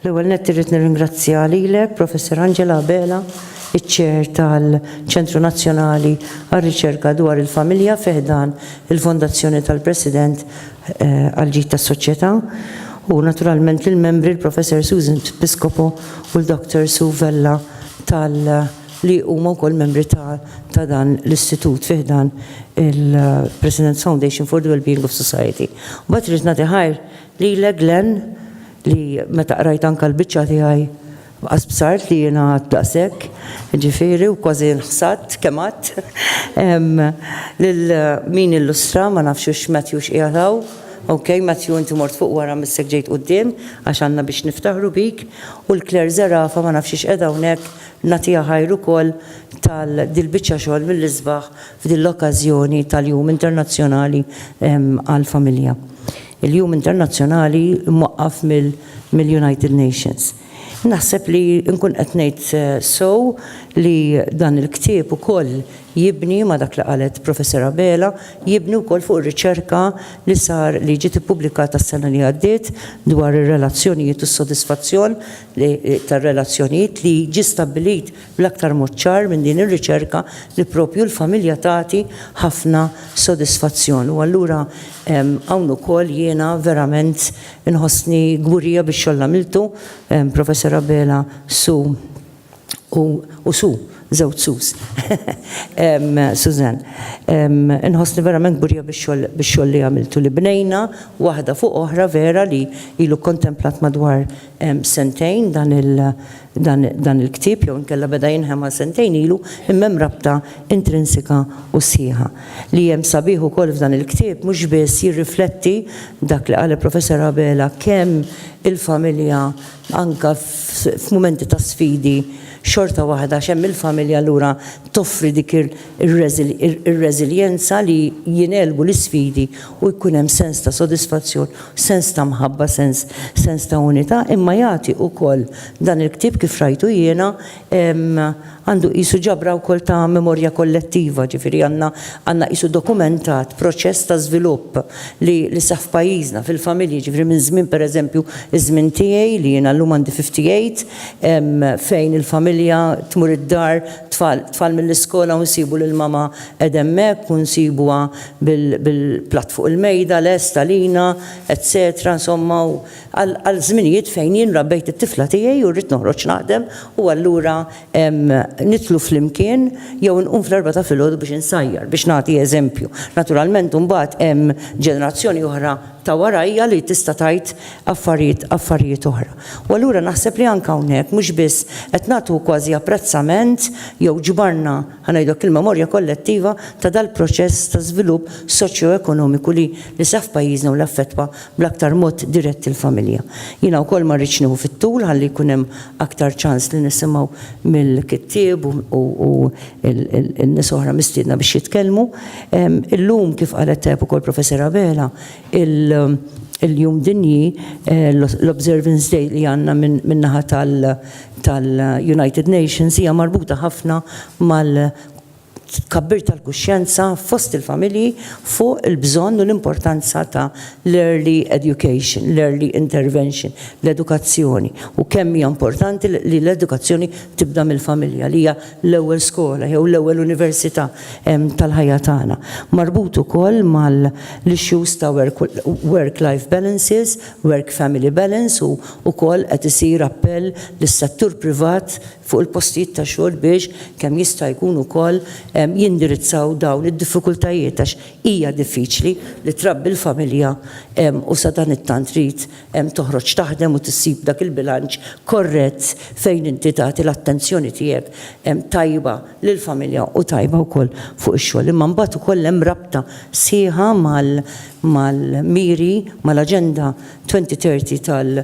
L-ewwel nett irrid nirringrazzja lilek, Professor Angela Abela, iċ-Chair tal-Ċentru Nazzjonali għar-Riċerka dwar il-Familja fi ħdan il-Fondazzjoni tal-President eh, għall-Ġid tas-Soċjetà u naturalment lill-membri l-Professor Susan Piscopo u l-Dr. Sue Vella tal- li huma wkoll membri ta' ta' dan l-istitut fi ħdan il-President's Foundation for the Wellbeing of Society. Mbagħad rrid nagħti ħajr lilek Glenn li meta qrajt anke l-biċċa tiegħi qas bsart li jiena għadt daqshekk, ġifieri u kważi nħsadt kemm għadt. Ehm, lil min illustra ma nafx hux Matthew x'qiegħed hawn. Ok, Matthew inti mort fuq wara missek ġejt quddiem għax għandna biex niftaħru bik u l-Claire Zerafa ma nafx x'qiegħda hawnhekk Nagħtiha ħajr ukoll tal dil-biċċa xogħol mill-isbaħ f'din l-okkażjoni tal-Jum Internazzjonali għall-Familja. Il-Jum Internazzjonali mwaqqaf mill-United Nations. Naħseb li nkun qed ngħid sew li dan il-ktieb ukoll jibni ma' dak li qalet Professor Abela, jibni wkoll fuq ir-riċerka li sar li ġiet ippubblikata s-sena li għaddiet dwar ir-relazzjonijiet u s-sodisfazzjon tar-relazzjonijiet li ġie stabbilit bl-aktar mod ċar minn din ir-riċerka li proprju l-familja tagħti ħafna sodisfazzjon. U allura hawn ukoll jiena verament inħossni kburija bix-xogħol li għamiltu, Professor Abela, su u u su, żewġ sus. Suzanne, inħossni verament kburija bix-xogħol bix-xogħol li għamiltu li bnejna waħda fuq oħra vera li ilu kkontemplat madwar sentejn dan il dan dan il-ktieb jew inkella beda jinħema sentejn ilu imma hemm rabta intrinsika u sħiħa. Li hemm sabiħ ukoll f'dan il-ktieb mhux biss jirrifletti dak li qal il-Professor Abela kemm il-familja Anke f'mumenti ta' sfidi, xorta waħda għax hemm il-familja allura toffri dik ir-reżiljenza li jingħelbu l-isfidi u jkun hemm sens ta' sodisfazzjon, sens ta' mħabba, sens ta' unità. Imma jagħti wkoll dan il-ktieb kif rajtu jiena għandu qisu ġabra wkoll ta' memorja kollettiva, ġifieri għandna għandna qisu dokumentat proċess ta' żvilupp li li seħħ f'pajjiżna, fil-familji, ġifieri minn żmien pereżempju ż-żmien tiegħi li jiena llum għandi 58 fejn il-familja tmur id-dar tfal tfal mill-iskola u nsibu lil mama qegħda hemmhekk u nsibuha bil bil-platt fuq il-mejda lest għalina etsetera insomma u għal żminijiet fejn jien rabbejt it-tifla tiegħi u rrid noħroġ naħdem u allura nidħlu flimkien jew inqum fl-erbgħa ta' filgħodu biex insajjar, biex nagħti eżempju. Naturalment imbagħad hemm ġenerazzjoni oħra ta' warajja li tista' tgħid affarijiet affarijiet oħra. U allura naħseb li anke hawnhekk mhux biss qed nagħtu kważi apprezzament jew ġbarna, ħa ngħidu hekk, il-memorja kollettiva ta' dal-proċess ta' żvilupp soċjoekonomiku li li seħħ f'pajjiżna u li affettwa bl-aktar mod dirett il-familja. Jiena wkoll ma rridx nieħu fit-tul ħalli jkun hemm aktar ċans li nisimgħu mill-kittieb u n-nies oħra mistiedna biex jitkellmu. Illum kif qalet tajjeb ukoll Professor Abela, il-Jum Dinji, l-observance day li għandna min-naħa tal-United Nations hija marbuta ħafna mal- tkabbir tal-kuxjenza fost il-familji fuq il-bżonn u l-importanza ta' l-early education, l-early intervention, l-edukazzjoni, u kemm hija importanti li l-edukazzjoni tibda mill-familja li hija l-ewwel skola jew l-ewwel università tal-ħajja tagħna. Marbut ukoll mal-issues ta' work-life balances, work-family balance u wkoll qed isir appell lis-settur privat fuq il-postijiet ta' xogħol biex kemm jista' jkun ukoll jindirizzaw dawn id-diffikultajiet għax hija diffiċli li trabbi l-familja u sadanittant trid toħroġ taħdem u tissib dak il-bilanċ korrett fejn inti tagħti l-attenzjoni tiegħek tajba lill-familja u tajba wkoll fuq ix-xogħol. Imma mbagħad ukoll hemm rabta sħiħa mal-miri, mal-Aġenda 2030 tal-,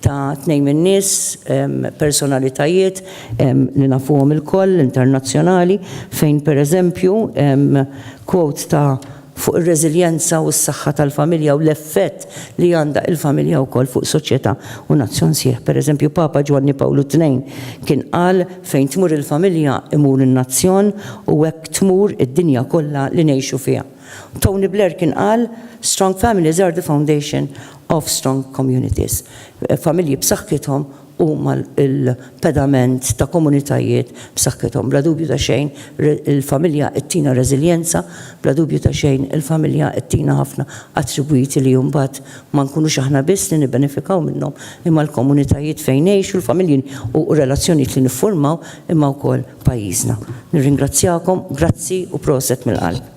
ta' tnejn min-nies, personalitajiet li nafuhom ilkoll, internazzjonali, fejn pereżempju, quote ta' fuq ir-reżiljenza u s-saħħa tal-familja u l-effett li għandha il-familja wkoll fuq soċjetà u nazzjon sħiħ. Pereżempju, Papa Ġwanni Pawlu Tnejn kien qal, Fejn tmur il-familja, imur in-nazzjon u hekk tmur id-dinja kollha li ngħixu fiha. Tony Blair kien qal, Strong families are the foundation of strong communities, familji b'saħħithom huma l-pedament ta' komunitajiet b'saħħithom. Bla dubju ta' xejn il-familja ttina reżiljenza, bla dubju ta' xejn il-familja ttina ħafna attribwiti li mbagħad ma nkunux aħna biss li nibbenefikaw minnhom imma l-komunitajiet fejn ngħixu, l-familji u r-relazzjonijiet li niffurmaw imma wkoll pajjiżna. Nirringrazzjakom, grazzi u proset mill-qalb.